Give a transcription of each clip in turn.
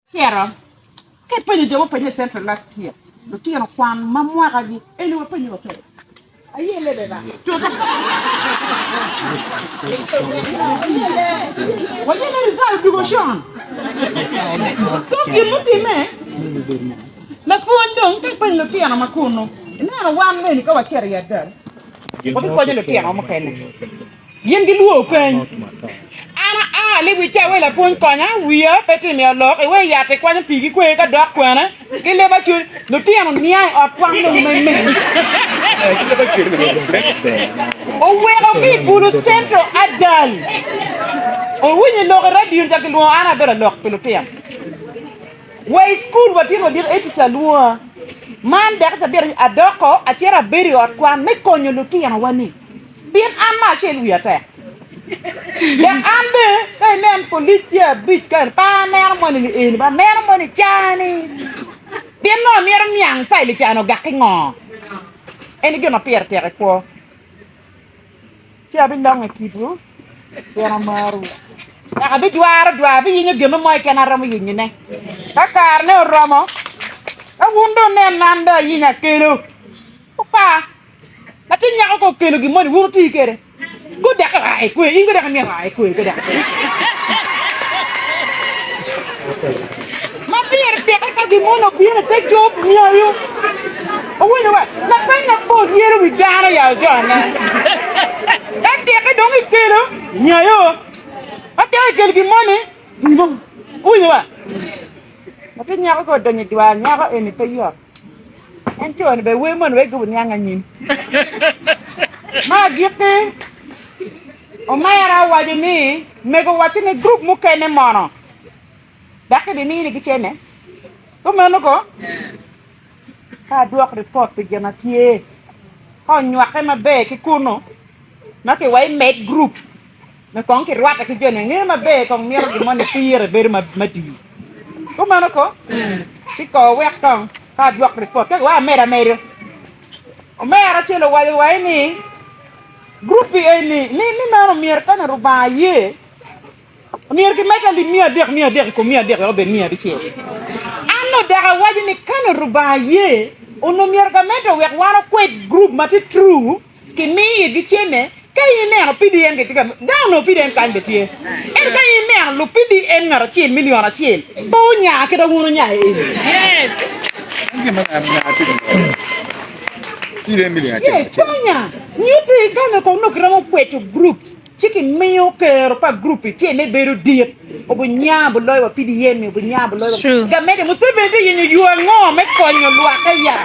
Tyero ka ipenyo jo mupeny i Central last year lutino kwan ma mwaka gi eni wapenyo wa kede aye lebe ba tuta waye ne result odugo con so gin mutime me pwony dong ka ipenyo lutino ma kunu ineno wan meni ka wacito i adal wabikonyo lutino wa mukene Gin gilwor peny. An aa ni wi cawa i lapwony konya, wiya pe tye miyo lok, iwe yat ikwanyo pii ki kwer ka dok kwene ki leba cwiny. Lutino nia i ot kwan nongo me mege oweko ki i Gulu Central adal. Owinyo lok i radio ni ca gilwongo an abedo lok pi lutino. Wa i cukul watyen wadiko ee tica lwonga. Man dek cabita adoko acito abedo i ot kwan me konyo lutinowa ni. Bin an me acel wiya tek, dok an bene ka inen polic tye abic ka pe aneno moni ni eni ba aneno moni cani. Bin nongo myero niang caili cani ogakki ngo? Eni gin ma pire tek i kwo. Ci abilongo i kitwu pien amarwu. Dok abijwaro dwar, abiyenyo gin mo keken aromo yenyone. Ka karene oromo, ka wun dong ineno ni an dong ayenyo akelo, wupa. Latin nyako ka okelo gin moni wun wuti kwede, gudek ira i kwer, in gudek imyero ira i kwer pe dok. Ma pire teke ka gin moni obino i te cob nyoyo, wuwinyo wa, lapeny mapol myero wi dano ya ojone. Ka teke dong ikelo nyoyo, ka teke ikelo gin moni, dimo. Wuwinyo wa? Latin nyako ka odonyo i dwar nyako eni pe yot. En cone be wer moni wek gibu niang anyim. Ma agikki, omera owaco ni mego wacci ni grup mukene mono daki bi mini gi cene. Kumeno ko ka adwok ripot pi gin a tye ka onywake maber ki kunu ma ki wa imed grup. Me kong kirwatte ki jo ninge maber, kong mito gin mo nipire bedo matir. Kumeno ko, ci ko wek kong ka adwok ripot kek wa amed amedo. Omera acel owaco wa ni grupi eni ni ni meno myero kanya Rubanga aye myero kimed alip miya adek miya adek i kom miya adek wek obed miya abicel. An odok awaco ni kanya Rubanga aye onongo myero gamedde wek wan okwed grup ma tye true Kimiyo igi cene. Ka in ineno PDN gitye ka myel, dano onongo PDN kany bene tye. Ento ka in ineno lub PDN ngat acel, milion acel, pe wunya kit ma wun wunya i eni. Yes, pe wunya. Nyutte kany ma kono onongo kiromo kweco groups. Ci kimiyo kero pa gurup-pi tye me bedo dit, obinya buloyo wa PDM-mi, obinya buloyo wa. Gamenti Museveni tye yenyo yo ango me konyo lwak aya?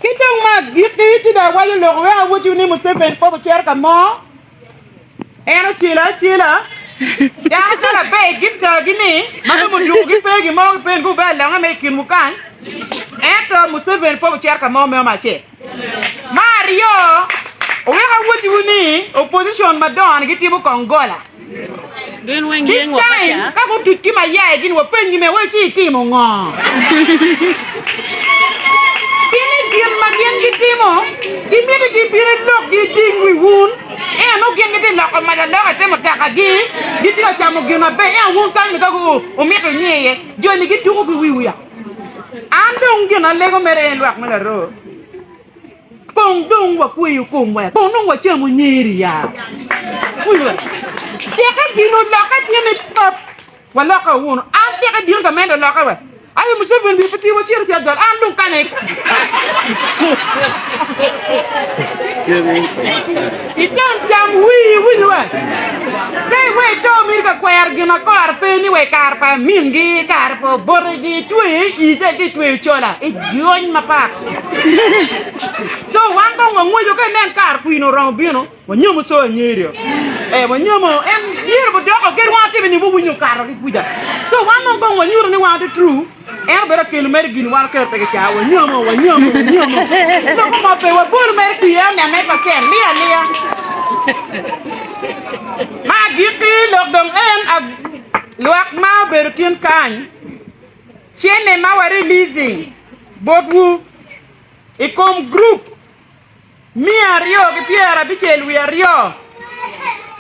Ki dong ma agikki, ci dong awaco lok wek awacciwu ni Museveni kop ocito ka mo, en ocelo acela. Dano ka laber i Giptagi ni ma dong ojuko gi pe gin mo, gipeni-gi wubea langa me i kinwu kany, ento Museveni kop ocito ka mo, meno me acel. Me aryo, wuwek awottiwu ni opposition madongo-ni gitimo kong gola. This time, ka gutuc ki mayaye gini, wapennygi me wai ci itimo ngo? Gin i gin ma gin gitimo, gimito ni gibin ilok giding wi wun, ento nongo gin gitye loko mac alok ite mutakagi, gitye ka camo gin maber, ento wun kany-ni ka wumito inge iye, joni gituko ki wiwu ya. An dong gin alego mere en lwak me laro kong dong wakweyo komwa kong dong wacamo nyeri ya teke gino lokke tye me pap waloka wunu an teke dino ka mene lokke wa aye museven wiye pe tye wacito ci ajol an dong kane Itam cam wii iwiny wa. Ka iweyo ito miti ka kwero gin ma kore pe ni wa i kare pa mingi, kare pa obotegi, itweyo i ite ka itweyo cola, ijony mapat. Co wan kong wangweco ka inen kare kwino oromo bino, wanyomo co angerio. E, wanyomo, en myero budoko kit wang atime ni wawinyo okato ki kuca. Co wan dong kong wanyuto ni wan ati true. En obed akelu mere gin wan okero pe kica wanyomo wanyomo wanyomo loko mo pe wabolu mere twi en nene pa cel liya liya ma agiki lok dong en lwak ma obedo tin kany cene ma wa releasing botwu i kom group Miya aryo ki pyera abicel wiye aryo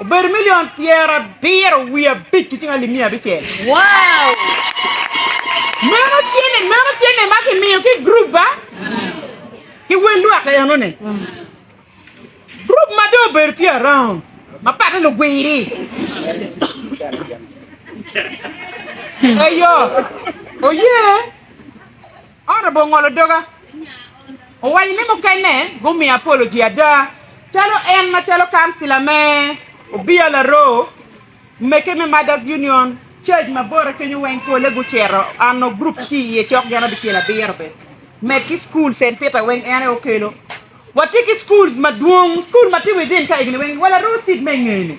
obedo milion pyera abiro wiye abic ki cing alip miya abicel. Meno tye ne meno tye ne ma kimiyo ki grup ba ki wel lwak eno ne. Grup ma do obedo tye around ma pate lugwiri. Ayo. Oye. Ento bor ngolo doga, owaco ni mukene gumiyo apoloji ada, calo en macalo kancila me Obiya Laroo, Meke me Mothers Union, Church ma bote kenyo weng pole gucito ano group tye iye cok gin abicel abiro be, med ki school Saint Peter weng en aye okelo. Watye ki schools madwong, school ma tye within ka egni weng wa Laroo city me ingeni.